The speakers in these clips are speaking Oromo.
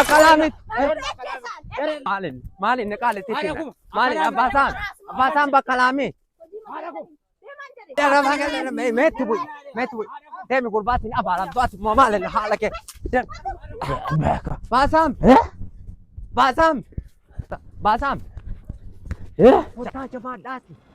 Akalaamit. Maalin maalin ni qaalitti itti hidha. Maalin abbaasaan abbaasaan bakka laamee. Meetti bu'i meetti bu'i. Deemi gurbaatiin abaala abbaati moo maalin haala kee. Baasaam baasaam baasaam. Kottaa jabaadhaati.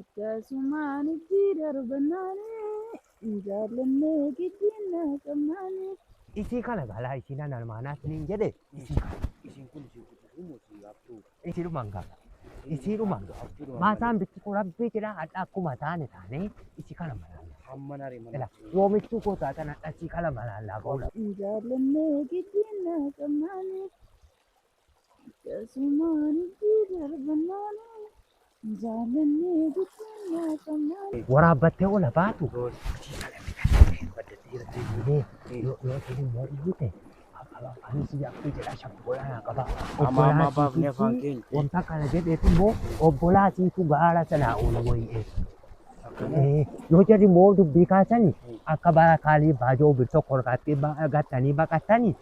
Akkasumaan itti darbannaanii hin jaallannee giddiin na qabnaanii. Isii kana galaa isiin an almaanaa siniin jedhe isii kana Isiin kun isii kututuu moo isii haftuu? isii dhumaan gaala. Isii dhumaan gaala. Haftuu dhumaan Maasaan bitti kun rabbii jedhaa hadha akkuma taane taane isii kana malaalla. Hamma naree mana. Ila yoomichuu koo taatan hadha isii kana malaallaa goona. Hin jaallannee giddiin na qabnaanii. Waraabbattee ola baatu. Amaa amaa baafnee afaan keenya. Wanta kana jedheef immoo obbolaatiitu gaara sanaa ol way'ee. Yoo jedhu immoo dubbii kaasanii akka bara kaalii baajoo bir tokko irratti gattanii baqattanii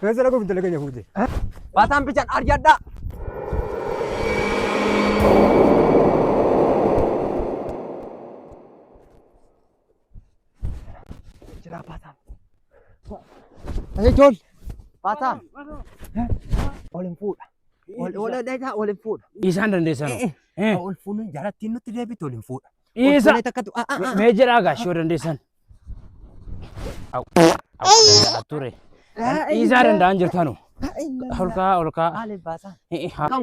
Kan sana kun dalaga nyafuute. Bataan bichaan arjadhaa. Jiraa bataan. Ayi jol. Bataan. Ol hin fuudha. Ol ol dheedaa ol hin fuudha. Isaan dandeessan. Ol fuunee jarattiin nutti deebiitti ol hin fuudha. Dhiisa. Kolkolee takkatu. Ah, ah, ah. Mee jedhaa gaashii yoo dandeessan. Au. Au. Danda'a ture. Dhiisaa danda'an jirtanu. Olkaa olkaa. Maaliif baasaa?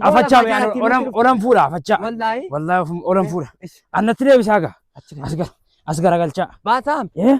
Afachaa mee ani olan olan fuudha afachaa. Wallaahi. Wallaahi olan fuudha. Annatti deebisaa gaa. As gara as garagalchaa. Baasaa. Eh?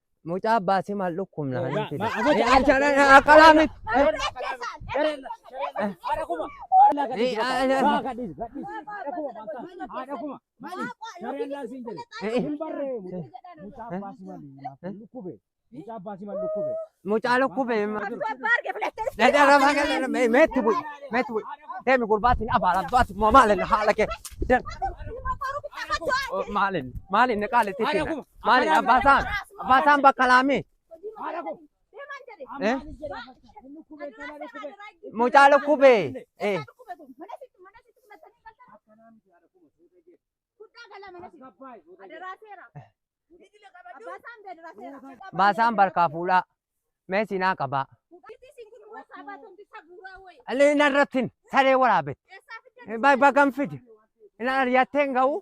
Mucaa baasii maal dhukkubna kan hin fide. Aqalaa miti. Mucaa lukkube. Dada rafa kan meetti bu'i. Meetti bu'i. Deemi gurbaatiin abaala abbaati moo maalin haala kee. Maalin maalin qaalitti. Maali abbaasaan abbaasaan bakka laamii Eh? mucaa lukkubee eh baasaan barkaa fuudhaa mee siinaa qabaa allee hin arrattin saree waraabet bagan fide hin aryattee hin ga'u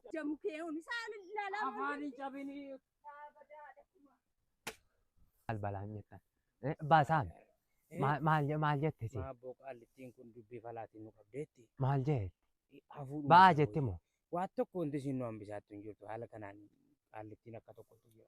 maal balaan jettan Eh, baasaame Maal- maal je- maal jette si Maabboo qaallittiin kun dubbii falaatiin nu qabdeetti. maal jee Hafuudhuma ba'aa tokko jetti moo Waan tokko wanti isin nu hambisaattu hin jirtu haala kanaan qaallittiin akka tokkotti jira.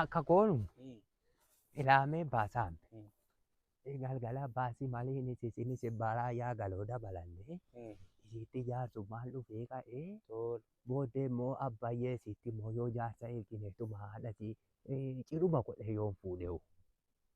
Akka koonu ilaamee baasaan galgala baasii malee inni sisinis baraa yaa galoo dabalannee isiitti jaarsu maal dhufee ka'ee booddee immoo abbayyee isiitti immoo yoo jaarsa eegineetuma haadhati ciruma godhe yoon fuudheewu.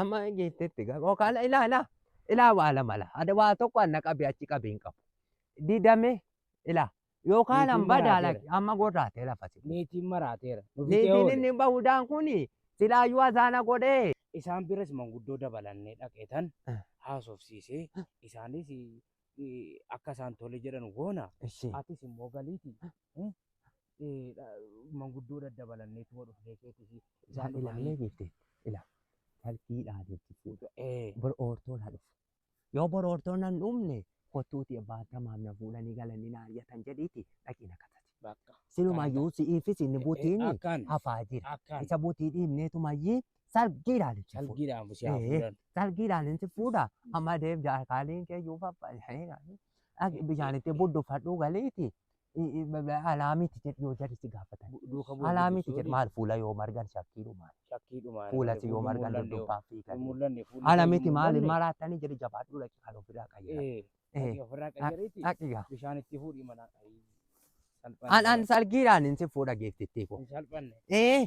Amma geettetti gama kaala ilaa ilaa ilaa waa lama laa ada waa tokko anna qabi achi qabi hin qabu didame ilaa yoo kaalan Niitiin badaa maraateera. laki amma gorraatee lafati Niitiin maraateera. Nu fixee niitiin oole. inni bahudaan kuni silaayyuu azaana godhee Isaan biras manguddoo dabalannee dhaqeetan Ah. haasofsiisee isaanis eh, akka isaan tole jedhan goona. ishee Atis immoo galiiti. eh, dha- manguddoo daddabalanneetuma dhufnee keeti isaan Isaan dhufanii ilaalee beekte. Ila. Talkii dhaalee jechuudha. eh, Bor oortoon haa dhufu. Yoo bor oortoon nan dhumne kottuuti abbaan tamaam na fuudhanii galanii na hayyatan jedhiiti dhaqii na katati. bakka Silumayyuu si'iifis inni butiin akkaan hafaa jira. akkaan Isa butii dhiibneetumayyii salgiidhaan itti fuudha. salgiidhaan si haa Eh. fuudhan Salgiidhaan itti fuudha. Amma deem jaarkaaliin keeyyuu faffaa. Bishaanitti budduffadhuu galiiti. Alaa miti jedhi yoo jarri si gaafatan. Duuka bu'ee Alaa miti jedhi maal fuula yoo margan shakkiidhu maal. Shakkii dhumaa. Fuula si yoo margan duddubbaan fiigan. Mul'anne fuulli. Ala miti maal maraatanii jedhi jabaadhu dhaqi kan ofirraa qayyara. Ee. Ofirraa qayyariiti. Dhaqi gaa. Bishaan itti fuudhi manaa. Salphanne. Anaan salgiidhaan hin si fuudha geeftittii koo. Hin salphanne. Ee.